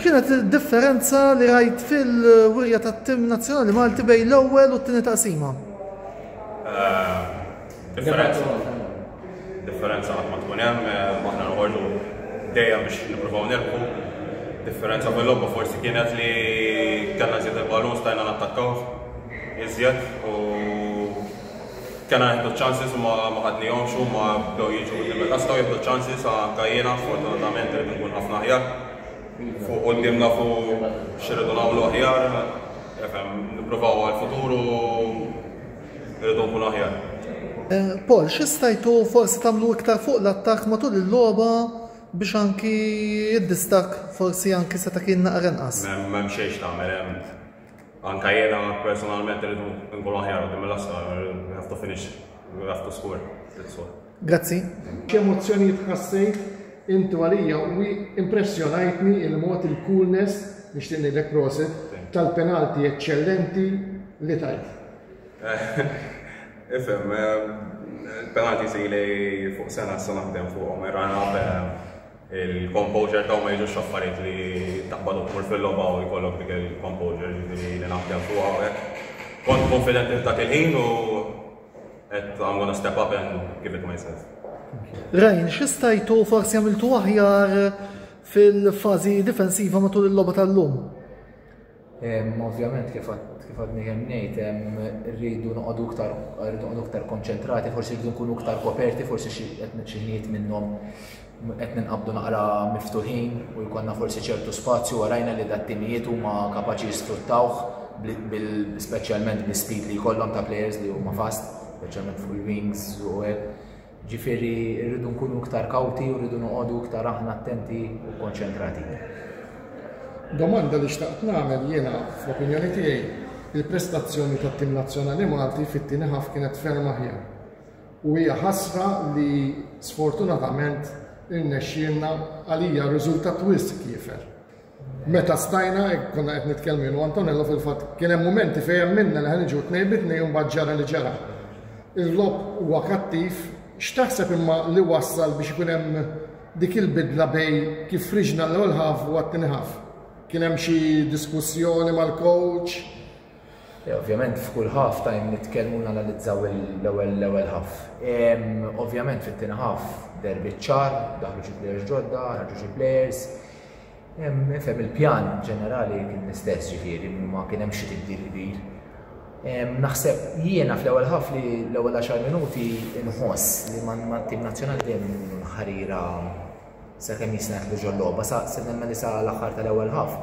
X'kienet id-differenza li rajt fil-wirja tat-tim nazzjonali Malti bejn l-ewwel u t-tieni taqsima? Differenza. Differenza qatt ma tkun hemm, aħna noħorġu dejjem biex nippruvaw nilħu. Differenza bil-logħba forsi kienet li kellna żied il-balun stajna nattakkaw iżjed u Kena nieħdu ċ-chances u ma ħadnihomx huma bdew jiġu quddiem il-ħadd setgħu jieħdu ċ-chances anke jiena sfortunatament irid inkun ħafna aħjar fuq quddiem nafu x'irridu nagħmlu aħjar efhem nippruvaw għall-futur u irridu nkunu aħjar. Eh, Paul, xi stajtu forsi tagħmlu iktar fuq l-attakk matul il-logħba biex anki id-distak forsi anki seta' kien naqra nqas. M'hemm xejn tagħmel hemm Anka jena personalment rridu nkunu aħjar u dimela skar, we have to finish, we have to score. Grazzi. X'emozzjonijiet ħassejt intu għalija u impressjonajtni il-mod il-coolness biex tinidek prosit tal-penalti eccellenti li tajt. Ifem, eh, penalti si li fuq sena s-sena ħdem fuq, ma jrana Il-composure taw ma jiġux affarijiet li taqbad u tmur fil-logħba u jkollok dik il-composure ġifieri li naħdem fuq hawnhekk. Kont konfidenti f'dak il-ħin u qed I'm gonna step up and give it myself. Rajn, xistajtu forsi għamiltu aħjar fil-fazi difensiva matul il-loba tal-lum? Ovvjament kif għadni kemm ngħid rridu noqogħdu iktar rridu noqogħdu iktar konċentrati, forsi rridu nkunu iktar koperti, forsi xi ħnijiet minnhom qed ninqabdu naqra miftuħin u jkollna forsi ċertu spazju għarajna li dat-timijiet huma kapaċi jisfruttawh speċjalment bi-speed li jkollhom ta' players li huma fast, speċjalment fuq il-wings u hekk. Ġifieri rridu nkunu iktar kawti u rridu noqogħdu iktar aħna attenti u konċentrati. Domanda li xtaqt nagħmel jiena fl-opinjoni tiegħi, il-prestazzjoni tat-tim nazzjonali Malti fit-tieni ħaf kienet ferm aħjar. U hija ħasra li sfortunatament irnexxielna għalija riżultat wisq kiefer. Meta stajna hekk konna qed nitkellmu jien u Antonello fil-fatt kien hemm mumenti fejn emminna li ħa niġu tnejn bi tnejn u mbagħad ġara li ġara. Il-logħob huwa kattiv, x'taħseb imma li wassal biex ikun hemm dik il-bidla bejn kif friġna l-ewwel half u għat-tieni half? Kien hemm xi diskussjoni mal-coach? Eh, ovvjament f'kull ħaf tajn nitkellmu nanalizzaw l-ewwel l-ewwel ħaf. Ovvjament fit-tieni ħaf derbi ċar, daħlu xi players ġodda, ħarġu xi players. Nifhem il-pjan ġenerali kien l-istess ġifieri ma kien hemm xi tibdil kbir. Naħseb jiena fl-ewwel ħaf li l-ewwel 10 minuti nħoss li ma tim nazzjonali dejjem ikunu ħarira sakemm jisna jitlu ġol-logħba sa se nemmen li sa l-aħħar tal-ewwel ħaf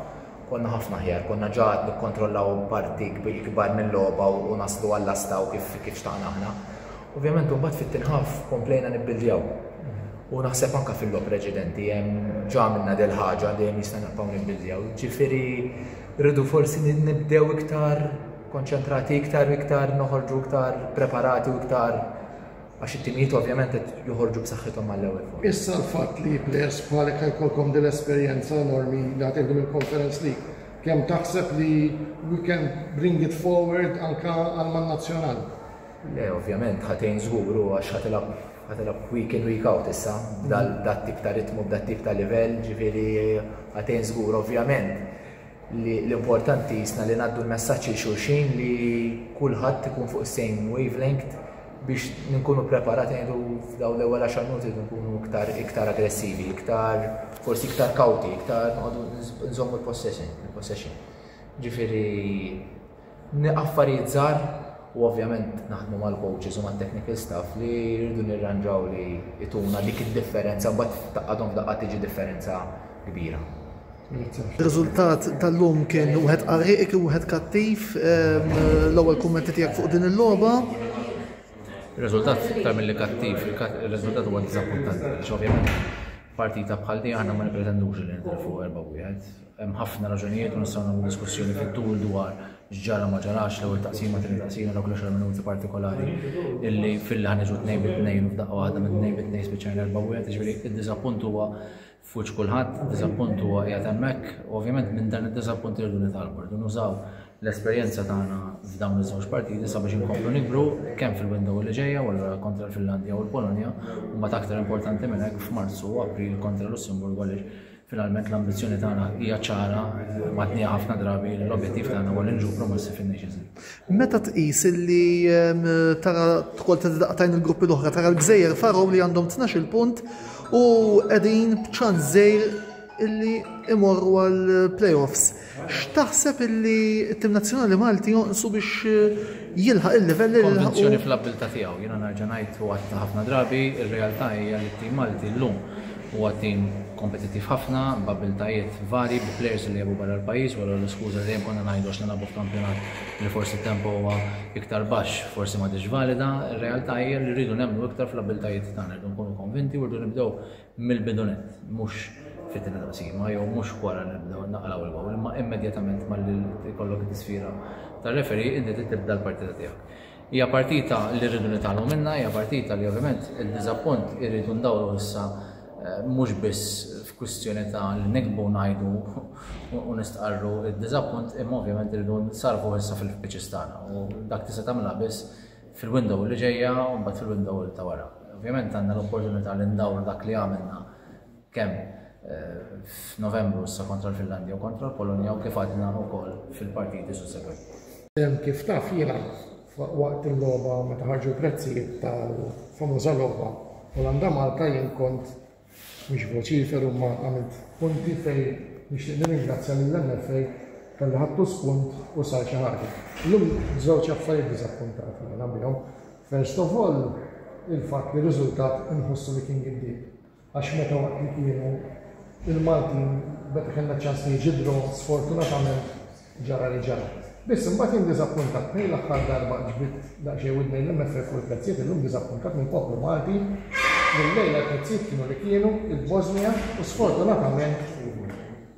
konna ħafna ħjar, konna ġaħat nikkontrollaw parti kbar mill-logħba u naslu għall-asta u kif kif xtaqna aħna. Ovvjament imbagħad fit-tinħaf komplejna nibbildjaw. U naħseb anke fil-logħob preċedenti hemm ġa għamilna del ħaġa dejjem jista' nibqgħu nibbiljaw. Ġifieri rridu forsi nibdew iktar konċentrati iktar u iktar noħorġu iktar preparati u iktar għax it-timijiet ovvjament qed joħorġu b'saħħithom mal-ewwel fuq. Issa l-fatt li players bħalek ħajkolkom din l-esperjenza enormi li ħad din il-Conference League. Kemm taħseb li we can bring it forward anka għal man nazzjonal? Le, ovvjament ħatejn żgur u għax ħatilab Qed nilgħab week in week out issa b'dat-tip ta' ritmu, b'dat-tip ta' livell, ġifieri qed tgħin żgur. Ovvjament li l-importanti jisna li ngħaddu l-messaġġ lil xulxin li kulħadd ikun fuq is-same wavelength biex nkunu preparati ngħidu f'dawn l-ewwel għaxar minuti nkunu iktar iktar aggressivi, iktar forsi iktar kawti, iktar nqogħdu nżommu l-possession, il-possession. Ġifieri Affarijiet żgħar u ovvjament naħdmu mal-coaches u mat-technical staff li rridu nirranġaw li jtuna dik id-differenza mbagħad taqadhom daqqa tiġi differenza kbira. Riżultat tal-lum kien wieħed qarriq, wieħed kattiv, ehm, l-ewwel kummenti tiegħek fuq din il-logħba. Riżultat iktar mill-li kattiv, il-riżultat huwa diżappuntanti, x'ovvjament partita bħal di aħna ma nipretendux li nidħlu fuq erba' wieħed. Hemm ħafna raġunijiet u nistgħu nagħmlu diskussjoni fit-tul dwar x'ġara ma ġarax l-ewwel taqsima, tieni taqsima dawk l-10 minuti partikolari illi filli ħaniġu tnejn bi tnejn u f'daqqa waħda minn tnejn bi tnejn spiċċajna erba' wieħed, ġifieri id-diżappunt huwa fuċ kulħadd, diżappunt huwa qiegħed hemmhekk, ovvjament minn dan id-diżappunt irridu nitalbu, irridu nużaw l-esperjenza tagħna f'dawn iż-żewġ partiti sabiex inkomplu nikbru kemm fil-window li ġejja u allura kontra l-Finlandja u l-Polonja u ma aktar importanti minn hekk f'Marzu u April kontra Lussemburgu għaliex Finalment l-ambizzjoni tagħna hija ċara, matnija ħafna drabi, l-objettiv tagħna huwa li nġu promossi fin-Nations League. Meta tqis li ehm, tara tkol taqtajn il-gruppi l-oħra, tara l-Gżejjer Farow li għandhom 12 punt u qegħdin b'ċans żejr illi imorru għal playoffs. X'taħseb illi t-tim nazzjonali Malti jonqsu biex jilħaq il-livelli li laħaq? Konvinzjoni fl-abbiltà tiegħu. Jiena nerġa' ngħid u għadtha ħafna drabi, ir-realtà hija li t-tim Malti llum huwa tim kompetittiv ħafna, b'abbiltajiet varji, bi plejers li jilgħabu barra l-pajjiż, wara l-iskuża li dejjem konna ngħidu għax nilgħabu f'kampjonat li forsi t-tempo huwa iktar baxx, forsi m'għadhiex valida. Ir-realtà hija li rridu nemmnu iktar fl-abbiltajiet tagħna, rridu nkunu konvinti u rridu nibdew mill-bidu nett, mhux fit-tieni taqsima jew mhux wara li nibdew naqraw il-gowl, imma immedjatament malli jkollok it-tisfira tar-referee inti trid tibda l-partita tiegħek. Hija partita li rridu nitgħallmu minnha, hija partita li ovvjament id-diżappunt irridu ndawruh issa mhux biss f'kwistjoni ta' li nikbu ngħidu u nistqarru d-diżappunt imma ovvjament irridu nsarrfuh issa fil-pitches tagħna u dak tista' tagħmilha biss fil-window li ġejja u mbagħad fil-window ta' wara. Ovvjament għandna l-opportunità li ndawru dak li għamilna kemm f'Novembru issa kontra l-Finlandja u kontra l-Polonja u kif għadna wkoll fil-partiti sussegwenti. Kif taf jiena waqt il-logħba meta ħarġu l-prezzijiet tal-famuża logħba Olanda Malta jien kont Mhux vociferu imma għamilt punti fejn nixtieq nirringrazzja lill-MFA talli ħadtu spunt u sar xi ħaġa. Illum żewġ affarijiet diżappuntati jiena bihom. First of all, il-fatt li riżultat inħossu li kien giddieb. Għax meta waqt li kienu il-Maltin meta kellna ċans li jiġi draw, sfortunatament Ġara li ġara. Biss imbagħad jien diżappuntat. Minn l-aħħar darba ġbidt daqsxejn widni l-MFF u l-prezzijiet illum diżappuntat mill-poplu Malti li llejla l-prezzijiet kienu li kienu, il-Bosnia u sfortunatament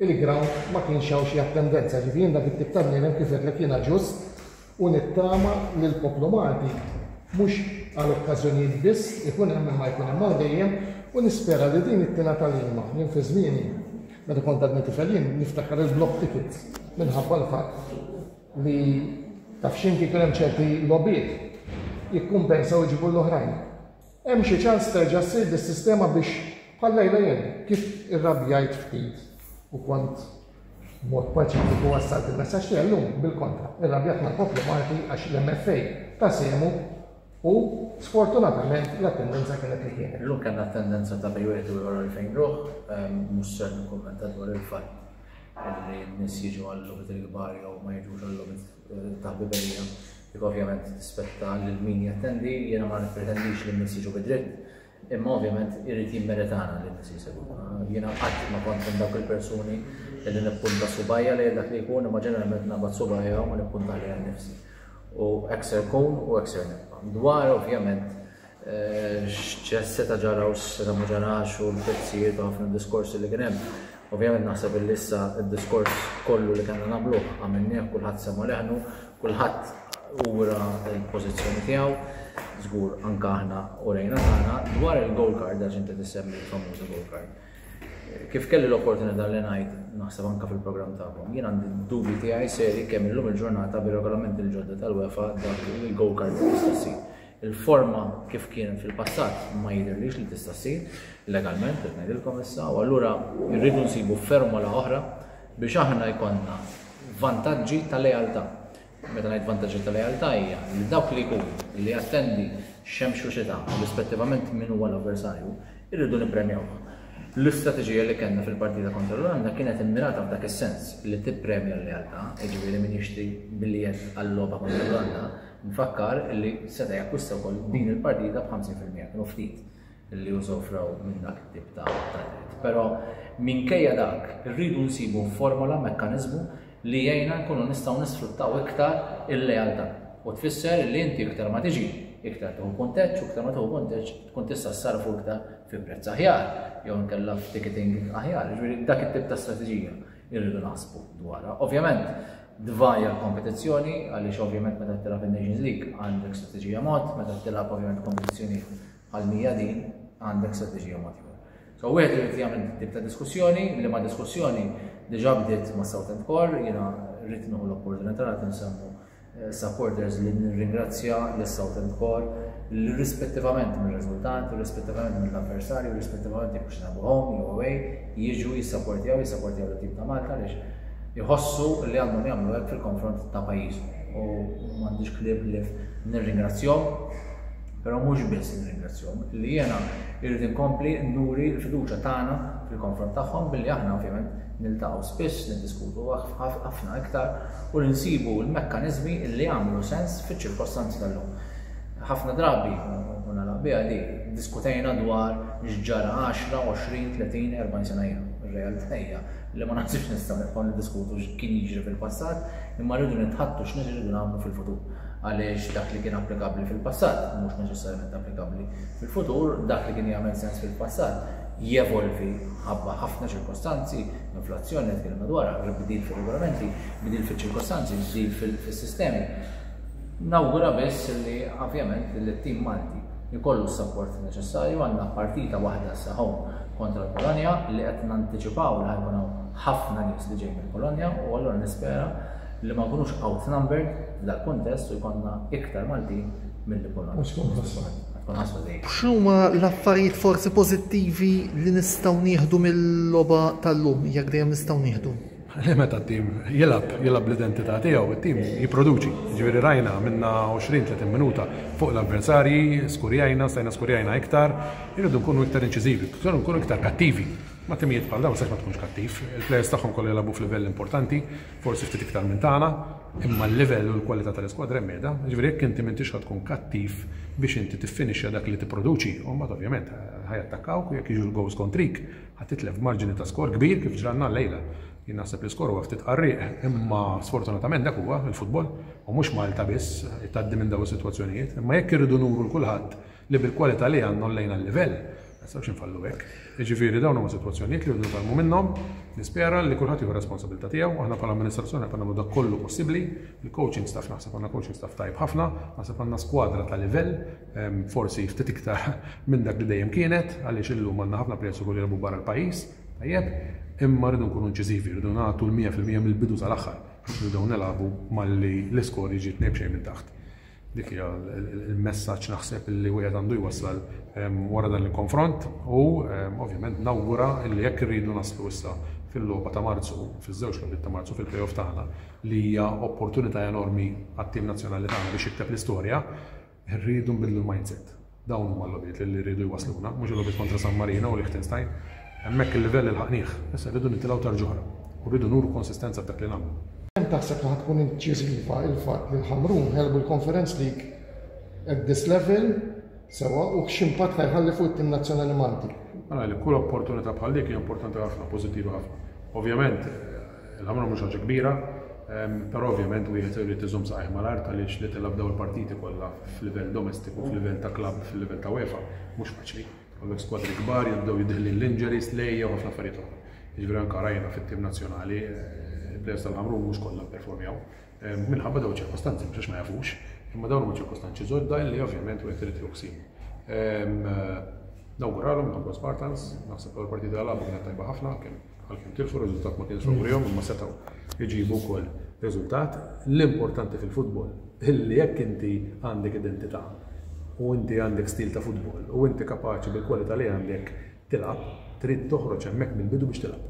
il-ground ma kienx hawn xi attendenza. Ġifieri jien dak it-tip ta' bniedem kif għedtlek jiena ġust, u nittama li l-poplu Malti, mhux għal okkażjonijiet biss, ikun hemm imma jkun hemm għal dejjem u nispera li din it-tiena tagħlima. Jien fi żmieni, meta kont għadni tifel jien niftakar il-block ticket minħabba l-fatt li taf x'inhi kien hemm ċerti logħbiet jikkumpensaw iġibu l-oħrajn. Hemm xi ċans terġa' ssir dis-sistema biex bħal Lejla jien kif irrabjajt ftit u kont b'mod paċifiku wassalt il-messaġġ tiegħi llum bil-kontra. Irrabjat mal-poplu Malti għax l-MFA ta sehmu u sfortunatament l-attendenza kienet li kienet. Illum kellna attendenza ta' bejn wieħed u ieħor għalfejn ruħ, mhux ser nikkummenta dwar il-fatt li n-nies jiġu għal-logħbiet il-kbar jew ma jiġux għal-logħbiet taħbiberija dik ovvjament tispetta lil min jattendi, jiena ma nippretendix li n-nies jiġu bidritt, imma ovvjament irid jimmeritana li n-nies jisegwuna. Jiena qatt ma kont minn dawk il-persuni li nippunta subajja li dak li jkun imma ġeneralment nabad subajja u nippunta li għal nifsi. U ekser kun u ekser nibqa'. Dwar ovvjament x'seta' ġara u x'seta' ma ġarax u l-prezzijiet u ħafna diskorsi li kien hemm. Ovvjament naħseb illi issa d-diskors kollu li kellna nagħmluh għamilnieh, kulħadd semgħa leħnu, kulħadd ura l-pożizzjoni tiegħu, żgur anke aħna urejna tagħna. Dwar il-gold card, għax inti tissemmi l-famuża gold card, kif kelli l-opportunità li ngħid naħseb anke fil-programm tagħkom, jien għandi d-dubji tiegħi serji kemm illum il-ġurnata bir-regolamenti l-ġodda tal-UEFA dak il-gold card tista' ssir. Il-forma kif kien fil-passat ma jidhirlix li tista' ssir legalment qed ngħidilkom issa u allura rridu nsibu fermola oħra biex aħna jkollna vantaġġi ta' lealtà. Meta ngħid vantaġġi ta' lealtà hija li dawk li jkun li jattendi xemx u xita rispettivament min huwa l-avversarju irridu nippremjawh. L-istrateġija li kellna fil-partita kontra l-Olanda kienet immirata f'dak is-sens li tippremja l-lealtà, jiġifieri min jixtri biljett għal-logħba kontra l-Olanda Nfakkar li seta' jakkwista wkoll din il-partita b'50 fil-mija, kienu ftit li usofrew minn dak it-tip ta' dritt. Però minkejja dak, irridu nsibu formola, mekkaniżmu li jgħinna nkunu nistgħu nisfruttaw iktar il-lealtà u tfisser li inti iktar ma tiġi, iktar tieħu punteġġ u iktar ma tieħu punteġġ tkun tista' ssarrfu iktar fi prezz aħjar jew inkella f'ticketing aħjar. Jiġifieri dak it-tip ta' strateġija. irridu naħsbu dwarha. Ovvjament, dvaja l-kompetizzjoni, għaliex ovvjament meta tilab il-Nations League għandek strategija mod, meta tilab ovvjament kompetizzjoni għal mija din għandek strategija mod. So, wieħed irid jagħmel tip ta' diskussjoni, li ma' diskussjoni diġà bdiet ma' Southend Core, jiena rrid l-opportunità li nsemmu supporters li nirringrazzja lis-Southend Corps li rispettivament mir-riżultat, rispettivament mill-avversarju, rispettivament jekk xna home jew away, jiġu jissapportjaw, jissapportjaw l-tim ta' Malta għaliex jħossu li għandhom jagħmlu hekk fil-konfront ta' pajjiżhom. U m'għandix kliem li nirringrazzjahom Però mhux biss nirringrazzjahom, li jiena irrid inkompli nuri l-fiduċja tagħna fil-konfront tagħhom billi aħna ovvjament niltaqgħu spiss, niddiskutu ħafna iktar u li nsibu l-mekkaniżmi li jagħmlu sens fiċ-ċirkostanzi tal-lum. Ħafna drabi, u nagħlaq biha di, ddiskutejna dwar x'ġara għaxra, għoxrin, tletin, erbgħin sena ilu. Ir-realtà hija li ma naħsibx nistgħu nibqgħu niddiskutu x'kien jiġri fil-passat, imma rridu nitħaddtu x'nies iridu nagħmlu fil-futur. għaliex dak li kien applikabbli fil-passat mhux neċessarjament applikabbli fil-futur, dak li kien jagħmel sens fil-passat jevolvi ħabba ħafna ċirkostanzi, inflazzjoni li tkellimna dwarha, bdil fir-regolamenti, bdil fiċ-ċirkostanzi, bdil fis-sistemi. Nawgura biss li ovvjament li t-tim Malti jkollu s-sapport neċessarju għandna partita waħda saħħu kontra l-Polonja li qed nanticipaw li ħajkun ħafna nies li ġejjin mill-Polonja u allura nispera li ma nkunux outnumbered f'dal-kuntest u jkollna iktar Maltin milli Polonja. U tkun ħasra. Tkun ħasra dejjem. X'huma l-affarijiet forsi pożittivi li nistgħu nieħdu mill-logħba tal-lum, jekk dejjem nistgħu nieħdu? Li meta t-tim jilgħab, jilgħab l-identità tiegħu, it-tim jipproduċi. Ġifieri rajna minna 20-30 minuta fuq l-avversarji, skurjajna, stajna skurjajna iktar, irridu nkunu iktar inċiżivi, irridu nkunu iktar kattivi. Ma timijiet bħal dawn sax ma tkunx kattiv, il-plejers tagħhom kollu jilgħabu f'livell importanti, Forsi ftit iktar minn tagħna, imma l-livell u l-kwalità tal-iskwadra hemm qiegħda. Jiġifieri jekk inti m'intix ħa tkun kattiv biex inti tiffinixxa dak li tipproduċi, u mbagħad ovvjament ħa jattakkawk u jekk jiġu l-gowls kontrik, ħa titlef b'marġini ta' skor kbir kif ġralna llejla. Jien naħseb li l-iskor huwa ftit qarrieq, imma sfortunatament dak huwa l-futbol, u mhux Malta biss tgħaddi minn dawn is-sitwazzjonijiet. Imma jekk irridu nuru 'l kulħadd li bil-kwalità li għandna għollejna l-livell. Ma nistgħux infallu hekk. Jiġifieri dawn huma sitwazzjonijiet li rridu nitgħallmu minnhom. Nispera li kulħadd jieħu r-responsabilità tiegħu. Aħna bħala amministrazzjoni qed nagħmlu dak kollu possibbli. Il-coaching staff naħseb għandna coaching staff tajjeb ħafna, naħseb għandna skwadra ta' livell, ehm, forsi ftit iktar minn dak li dejjem kienet, għaliex illum għandna ħafna plejers ukoll jilgħabu barra l-pajjiż. Tajjeb, imma rridu nkunu inċiżivi, rridu nagħtu l-100% mill-bidu sal-aħħar. Rridu nilagħbu malli l-iskor jiġi tnejn b'xejn minn taħt. Dik hija l-messaġġ naħseb li wieħed għandu jwassal wara dan il-konfront u ovvjament nawgura li jekk irridu naslu issa fil-logħba ta' Marzu, fiż-żewġ logħbiet ta' Marzu fil-playoff tagħna li hija opportunità enormi għat-tim nazzjonali tagħna biex jikteb l-istorja, irridu nbiddlu l-mindset. Dawn huma l-logħbiet li jridu jwassluna, mhux il-logħbiet kontra San Marino u Liechtenstein. Hemmhekk il-livell ilħaqnih, issa rridu nitilgħu tarġa oħra u rridu nuru konsistenza f'dak li nagħmlu. Kemm taħseb li ħa tkun inċiżiva l-fatt li l-Ħamrun għelbu l-Conference League at this level sewwa u x'impatt ħa jħalli fuq it-tim nazzjonali Malti? Ara li kull opportunità bħal dik hija importanti ħafna, pożittiva ħafna. Ovvjament, Il-ħamra mhux ħaġa kbira, però ovvjament wieħed irid iżomm saqajh mal-art għaliex li tilgħab dawn il-partiti kollha f'livell domestiku, f'livell ta' klabb, fil-livell ta' UEFA, mhux faċli. Kollok skwadri kbar, jibdew jidħlin l-injuries, tlejja u ħafna affarijiet oħra. Jiġifieri anke rajna fit-tim nazzjonali, il-players tal-Ħamrun mhux kollha pperformjaw. minħabba dawn iċ-ċirkostanzi, mhux għax ma jafux, imma dawn huma ċirkostanzi ġodda li ovvjament wieħed irid joqsim. Nawguralhom nħobbhom Spartans, naħseb l partita għalabu kienet tajba ħafna, għalkemm tilfu riżultat ma kienx favorihom, imma setgħu jġibu wkoll riżultat. L-importanti fil-futbol illi jekk inti għandek identità u inti għandek stil ta' futbol u inti kapaċi bil-kwalità li għandek tilgħab, trid toħroġ hemmhekk mill-bidu biex tilgħab.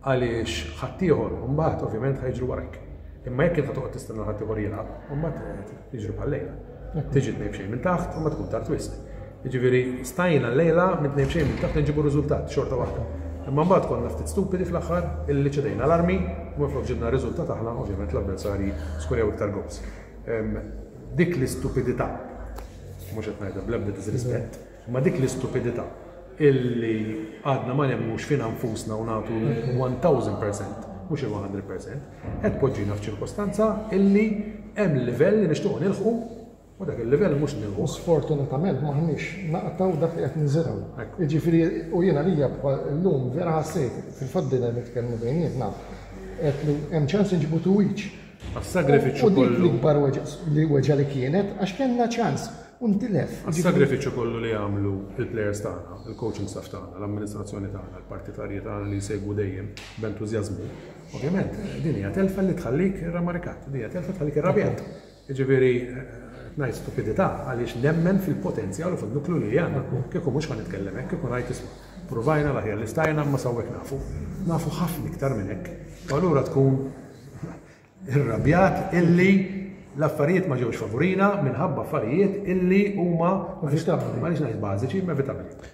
Għaliex ħaddieħor mbagħad ovvjament ħa jiġru warajk. Imma jekk int ħa toqgħod tistenna ħaddieħor jilgħab, mbagħad jiġru bħal-lejla. Tiġi tnejb xejn minn taħt u ma tkun tard wisq. Jiġifieri stajna l-lejla minn tnejb xejn minn taħt nġibu riżultat xorta waħda. Imma mbagħad konna ftit stupidi fl-aħħar illi ċedejna l-armi u minflok ġibna riżultat aħna ovvjament l-avversarji skurjaw iktar gobs. Dik l-istupidità, mhux qed ngħidha bl-ebda disrispett, Ma dik l-istupidità illi għadna ma nemmnux fina nfusna u nagħtu l-one thousand percent, mhux il-one hundred percent, qed tpoġġina f'ċirkostanza illi hemm livell li nixtiequ nilħqu u dak il-livell mhux nilħquh. Sfortunatament m'aħniex naqtgħu dak li qed niżirgħu. Jiġifieri u jien għalija llum vera ħassejt, fil-fatt bdejna nitkellmu bejnietna, għedt li hemm ċans inġibu two each. Għas-sagrifiċċju kollu. U dik l-ikbar weġgħa li kienet għax kellna ċans u ntilef. Għas-sagrifiċċju kollu li għamlu l-plejers tagħna, il-coaching staff tagħna, l-amministrazzjoni tagħna, l-partitarji tagħna li jsegwu dejjem b'entużjażmu. Ovvjament, din hija telfa li tħallik rammarikat, din hija telfa tħallik irrabjat. Jiġifieri ngħid stupidità għaliex nemmen fil-potenzjal u fin-nuklu li għandna. Kieku mhux ħa nitkellem hekk, kieku ngħid isma' provajna l-aħjar li stajna imma sawwek nafu. Nafu ħafna iktar minn hekk. U allura tkun irrabjat illi l-affarijiet ma ġewx favurina minħabba affarijiet illi huma ma nix ngħid bażiċi, inevitabbli.